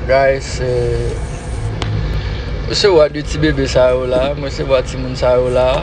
Guys Mwen se wa de ti bebe sa yo la Mwen se wa ti moun sa yo la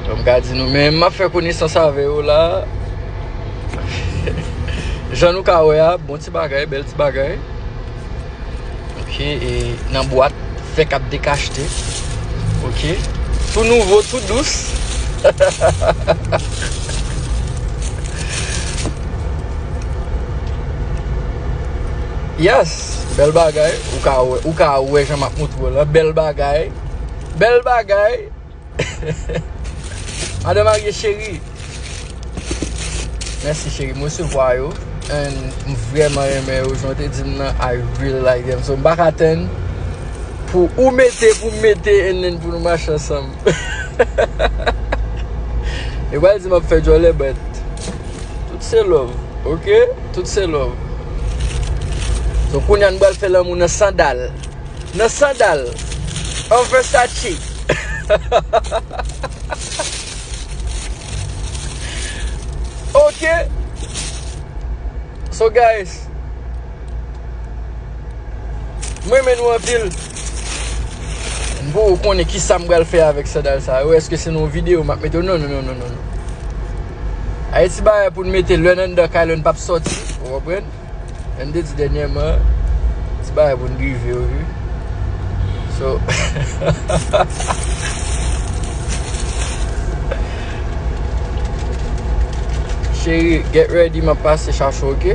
Mwen ka di nou men Mwen fè koni san sa ve yo la Jan nou ka wè a Bon ti bagay, bel ti bagay Ok e nan bwat fè kap dekachte Ok tou nouvo tou dous Yes bèl bagay ou ka wè ou ka wè jan map moutrew la bèl bagay bèl bagay Madan marye cheri Mèsi cheri m resevwa yo And m vrèman renmen yo Jan w te di m nan I really like them So m pa ka tann Pou ou mete pou m mete And then pou nou mache ansanm Yo pral di m ap fè djòlè But Tout se love Ok Tout se love So kounya nou pral fè lanmou nan sandal Nan sandal en Versace. Ok. So guys. M renmen nou anpil. M pou ou konnen ki sa m pral fè avèk sandal sa yo. Eske se nan yon videyo m ap mete yo? Non, non, non, non. Ayiti bagay pou nou mete lè n anndan kay la nou p ap soti. Ou konprann? Jan m te di dènyèman, se bagay pou n drive yo wi. So, Cheri, get ready m ap pase chache w ok.